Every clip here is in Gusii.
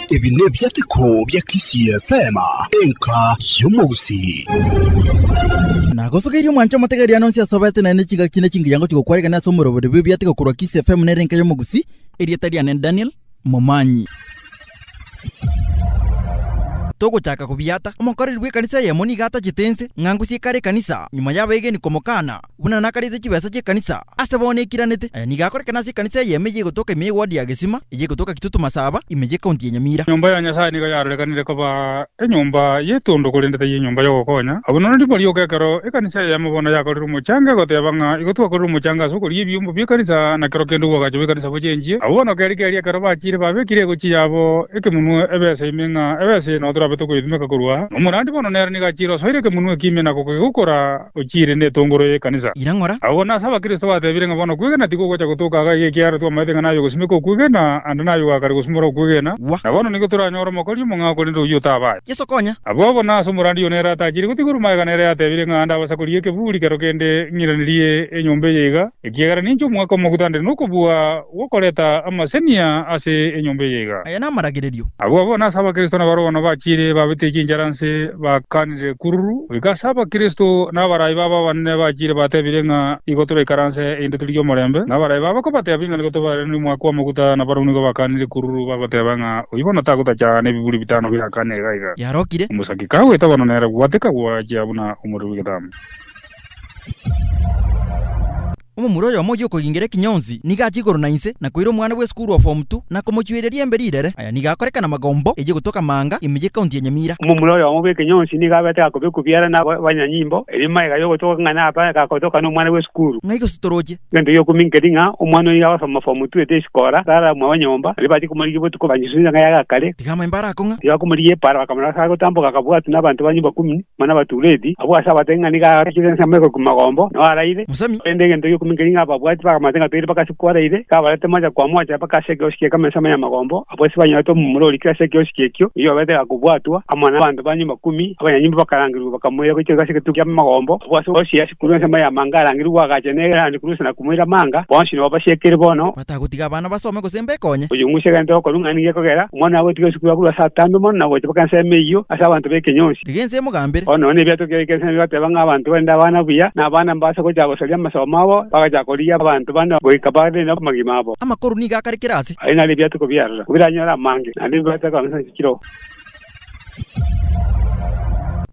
Ebi nebiateko bia Kisii FM, enka y'omogusii. Nagosogeirie omwancho omotegeeri ano onsi asobete naende chigaki na chingiyango chigokwarekana ase omorobori bw'ebiateko korwa Kisii FM nere enka y'omogusii. Erieta riane Daniel. momanyi. Togochaka kobiata, omokoreri bw'ekanisa eyemo nigo atachete ense ng'a ngosie kare ekanisa, nyuma y'abaegeni komokaana, buna nakariete chibesa chi'ekanisa. Ase bono ekiranete, aya nigo akorekana ase ekanisa eyemo eye egotoka ime y'Egwadi ya Gesima, eye egotoka Kitutu Masaba, ime y'Ecounty ya Nyamira. Nyomba ya Nyasae nigo yarorekanire koba Enyomba y'etondo korende taiyo enyomba y'ogokonya. Abwo noro nigo rioka ekero ekanisa eyemo bono yakorire omochango egoteba ng'a igo twakorire omochango ase okoria ebiombo bi'ekanisa na kero kende obwagacho bw'ekanisa bochenchie. Abwo bono keri keri ekero bachire babekire egochi yabo ekemunwe ebesa ime ng'a ebesa eye nao torabe tokoyetumeka korwa aa. Nomorandi bono nere nigo achire osoire ekemunwe eke ime na gokegokora. Ochiire netongoro y'ekanisa. Ira ng'ora. Agwo nase Abakristo batebire ng'a bono okwegena tigogocha gotoka iga iga ekiagera twamaete ng'a naye ogosimeka okwegena, ande naye ogoa kare gosimora okwegena. Gwa. Na bono nigo toranyore omokori omong'ao korende oyio otaba aye. Yeso konya. Abwo bono ase omorandi oyio nere atachire gotiga oromaiga nere yatebire ng'a ande abasakorie ekeburi kero kende ng'iranirie enyomba eye iga. Ekiagera ninche omogaka omogutandire nokobua gw'okoreta amasenia ase enyomba eye iga. Aya namaragererio. Agwo bono ase Abakristo nabare bono bachiire babete chinchara nse bakanire kururu, goika ase Abakristo n'abarai babo abanene bachiire batebire ng'a igo toraikaranse inde torigie omorembe, n'abarai babo kobatebia ng'a nigo tobarere nomwaka w'amaguta na barabwo nigo bakanire kururu bagoteba ng'a oyio bono tagotacha nebiburi bitano birakane iga iga. Yarokire. Omosake kagweta bono nere gwateka gwachia buna omoriri bw'egetama. Omomura oyomo ogi'okogingira ekinyonsi nigo achia igoro na inse na koira omwana bw'esukuru o form two na komochueria riembe rirere. Aya nigo akoreka namagombo eyio gotoka Maanga, ime y'ecounty ya Nyamira. Omomura oyomo bw'ekinyonsi nigo abete gakobekwa biara na abanyanyimbo, erio magega y'ogotoka ng'a naba gakotoka nomwana bw'esukuru. Ng'ai gose toroche? Egento gi'okumi nkeri ng'a omwana oyio agosoma form two ete esikora, tara mwabo nyomba, baria bachia komorigia botuko banyesunte ng'a yagakare. Tiga amaemba arakong'a. Tiga komorigia epara, bakamorasa agotamboka akabwatwa nabanto ba nyomba kumi. Mana batureti, abwo ase abatari ng'a nigo arachire ensemo egoikwa magombo, nao araire. Mosemi. Korende egento giokominka nigo ababwati bakamanyete ng'a toire mpaka ase kwaraire, iga abarete mocha kwa mocha mpaka ase ekerosi gie kame ensemo ya magombo, abwo ase banyorete omomura ori kera ase ekerosi gekio, oyio obeete gakobwatwa, amo nabanto ba nyomba kumi, abanyanyimbo bakarangerigwa bakamoira goika iga ase egetugi kia magombo, abwo ase ekerosi asikure ensemo y'amanga arangerigwe agacha, na ere arandikurwe ase na kumoira amanga, bonsi nabwo basiekire bono. Batagotiga abana basome gose mbekonye. Oyomwise egento okorwa ng'a nigo ekogera, omwana agotiga esukuru akorwa ase atambe mono na gocha mpaka ensemo eyio ase abanto b'ekenyonsi. Tiga ense emogambere. Bono nonya nebiato kera ekiaisano bigateba ng'a abanto barende abana buya, na abana mbabase gocha gosaria amasomo abo, bagachaka korigia abanto bande goika bare namagima abo. Amakoru nigo akarekire ase. Aye nare ebiatuko biarora, ko biranyore amange, naende bibaate kong'esa inse chire oo.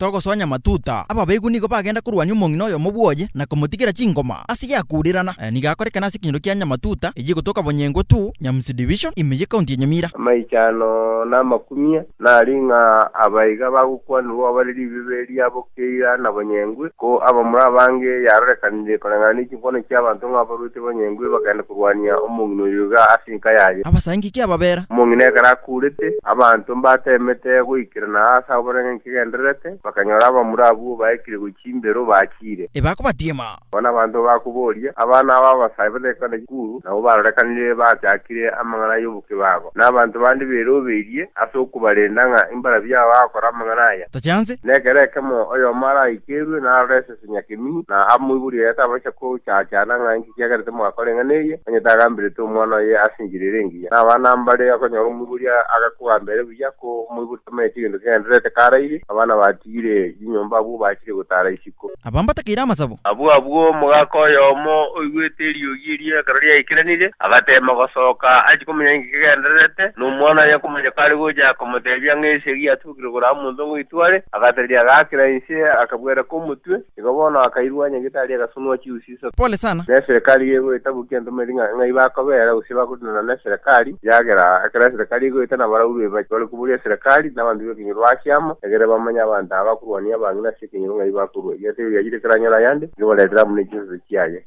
Togosonya matuta. Ababeeku nigo bagenda korwania omong'ina oyomo bwoye, na komotigera chingoma ase yakurirana. Aya nigo akorekana ase ekenyoro kia Nyamatuta, eyio egotoka Bonyengwa ii, Nyamsi Division, ime ye County ya Nyamira. Amaichano na amakumia nari ng'a aba iga bagokwanigwa obare ribibe riabo keira na Bonyengwa ii, ko abamura abange yarorekanirie koreng'ana ne chingoma. Bono inche abanto ng'abaruete banyengwe bakagenda korwania omong'ina oyo iga ase enka yaye. Abasangi ki ababera? Omong'ina ekero akuurete, abanto mbateemete goikerana aase agwo barenge nkegendererete, bakanyora abamura abwo baekire gochia chimbero bachiire. Ebakobatiima. Bono abanto bakoboria, Abana aba abasae bataikwa ne chikuru, nabo barorekanire bachakire amang'ana y'obokebago, na abanto bande berobeirie ase okobarenda ng'a imbarabi yao agakora amang'ana aya? Tachianse. Na ekero ekemo oyomo araaikerwe narore ase. Senyia Kemini, na aa moiboria oye atabachia kochaachana ng'a inki kiagera timwakora eng'ana eye, onye tagamberete omwana oye ase enchera ere engiya. Na abana mbare okonyora omoiboria agakogamba ere buya, ko omoiboria tamanyeti egento kegendererete karaire, abana batigire chinyomba abwo bachire gotaara isiko. Aba mbatakeire amasabo. Abwo abwo omogaka oyomo oigwete eriogi erio ekero riaikeranire, agateema gosoka achie komanya inki kegendererete, na omwana oye komanya kare gocha, akomotebia ng'a esegi yatuke. Igoro kore amonto ng'o itware, agatereria agaakera inse, akabwereka omotwe, igo bono akairwa onye gitari agasunwa chiusi isato. Pole sana. Ne eserekari yegoeta boki yantomairi ng'a ng'ai bakobera gose bakorinana ne eserekari, eagera ekero eserekari egoeta nabaraurwe bache bare koboria eserekari nabanto bekenyoro ase amo egere bamanye abanto aba bakorwania abang'ina ase ekenyoro ng'ai bakorwa. Egeterio giachire keranyore ayande, nigo baretere amo ne chinsato chiaye.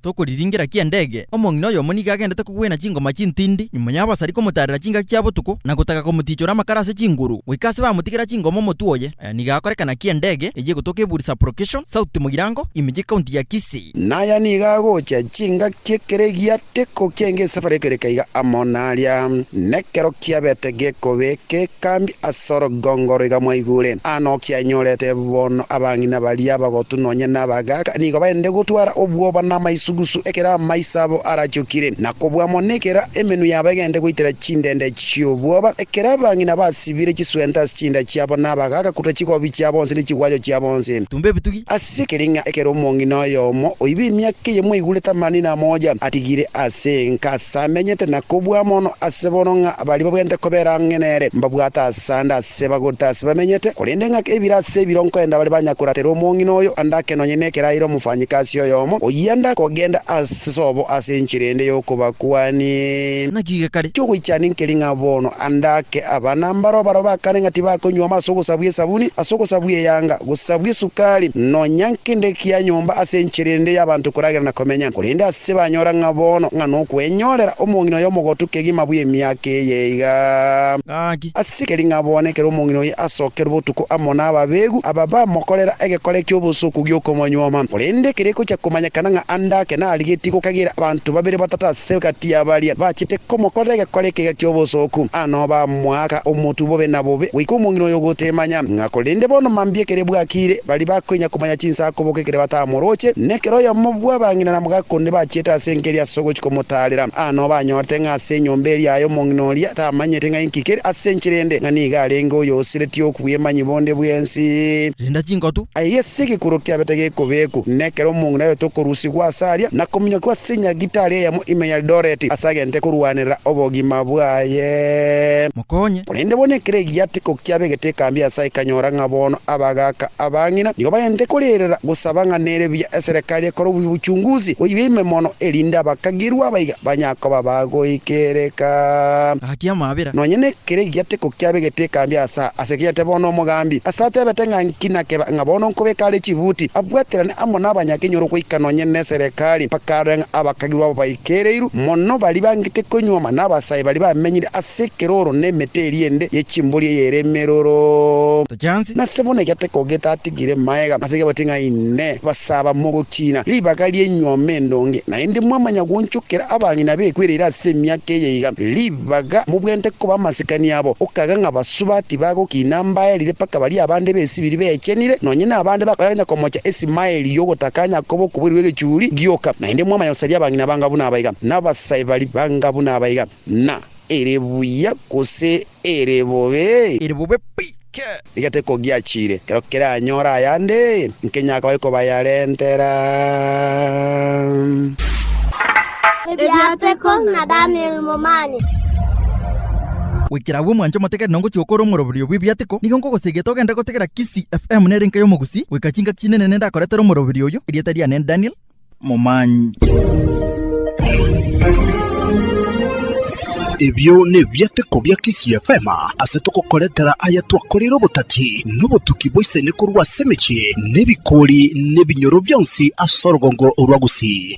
Tokoriringera ki endege? Omong'ina oyomo nigo agendete kogwena chingoma chintindi nyuma y'abasari komotarera chingaki chia botuko na gotaka komotichora amakara ase chinguru. Goika ase bamotigera chingoma omotwe oye, nigo akorekana ki endege eyio egotoka Eburi Sublocation, Sauti Mogirango, ime y'ecounty ya Kisii. Naya nigo agocha chingaki ekero egiato. Geko kiainga esafari ekereka iga amo naria, nekero kiabete gekobe gekambi asoro gongoro iga mwaigure. Aa nokianyorete bono abang'ina baria abagotu nonya nabagaaka nigo baende gotwara obwoba namaisugusu ekero amaiso abo arachokire na kobua mono ekero emenwa yabo egende goitera chindende chiobwoba ekero abang'ina basibire chiswenta ase chinda chiabo nabagaaka kuruta chigobi chiabo onsi ne chigwacho chiabo onsi. Ase ekering'a ekero omong'ina oyomo oiba emiaka eye mwaigurete amani na amoja, atigire ase enka ase amenyete na kobua mono ase bono ng'a baria babwenerete kobera ang'e nere mbabwate ase ande ase bagorete ase bamenyete, korende ng'a ebiro ase ebiro nkoenda bare banyakoratera omong'ina oyo ande ake nonye nekeraire omofanyikasi oyomo oyio ande akogenda ase sobo ase enchera ende y'okobakuani. Naki gekaria. Kiogoichania ekering'a bono. Ande ake aba nambaroo barabwo bakane ng'a tibakonywoma ase ogosabwa esabuni, ase ogosabwa eyanga, gosabwa esukari, nonya nkende kia nyomba ase enchera ende y'abanto koragera na komenya, korende ase banyora ng'a bono ng'a nokwenyorera omong'ina oye omogotu kegima bwe emiaka eye iga. Gaki, ase keri ng'a bono ekero omong'ina oye asokerwe botuko amo n'ababeegu aba bamokorera egekora eki'obosuku gi'okomonyuoma, korende ekero ekochia komanyekana ng'a ande ake narigetie gokagira abanto babere batato ase gati, hagati ya baria bachete komokorera egekore ekega ki'obosooku, aa noba amoaka omotu bobe na bobe, goika omong'ina oyo ogotemanya. Ng'a korende bono mambia ekere bwakiire, baria bakoinya komanya chinsa akoboka ekere batamoroche, na ekero oyomo bw'abang'ina na mogaaka onde bachiete ase enka eria ase ogochia komotaarera. Aa noba anyorete ng'a ase enyomba eria yaye omong'ina oria tamanyeti ng'a inki kere ase enchera ende, ng'a nigo arenge oyosiretie okobua emanyi bonde bw'ense. Rinda chinkotu. Aye ase egekorwa kiabete gekobeekwa, na ekero omong'ina oye tokorusigwa ase aria, na kominyokigwa ase enyagitari eyemo ime ya Eldoret, ase agente korwanera obogima bwaye. Mokonye. Korende bono ekero egiya tiko kiabegete ekambi ase aye kanyora ng'a bono abagaaka abang'ina nigo bagente korerera gosaba ng'a nere buya eserekari ekore obuchunguzi boibe ime mono erinde abakagirwa abaiga banyakoba bagoikereka. Gaki amabera. Nonya ne. Kere egiateko kiabegete ekambi Asa ase kiete bono omogambi Asa atebete ng'a nki nakeba ng'a bono nkobeka are chibuti abwaterane amo nabanyakenyoro goika nonye neserekari, bakarora ng'a abakagirwa abo baikereirwe mono baria bangete konyuoma nabasae baria bamenyire ase ekeroro nemete eria ende ye chimbori eyere emeroro. Nase bono egiateko getatigire maega ase kiabwati ng'a Inee! Basaba mogochiina ribaga rienyuoma endonge, naende mwamanya gwonchokera abang'ina bekwereire ase emiaka eye iga? Lib. Baga mobwenerete koba amasikani abo, okaga ng'a basuba tibagokina mbaerire mpaka baria abande b'esibiri beechenire, nonya nabande bakoyaganya komocha Isimaeli y'ogotaka Yakobo okoboirwe egechuri gioka. Naende mwamanya gosaria abang'ina banga buna abaiga, na abasae baria banga buna abaiga, na ere buya gose ere bobe. Ere bobe pi! Egete kogiachire, ekero keranyore ayande, nkenya akoe kobayarentera. Ebiateko na Daniel Momani. Goikera agwo mwanche omotegete na ngochia gokora omoroberio bw'ebiateko, nigo nkogosegete ogende gotegera Kisii FM nere nkaye omogusii, goika chingaki chinene nende akoretera omoroberio oyo, erieta riane Daniel, momanyi. Ebio nebiateko bia Kisii FM ase togokoretera aya twakoreire obotati na obotuki bwa isani korwa ase emechie na ebikori na ebinyoro bionsi ase orogongo rwa Gusii.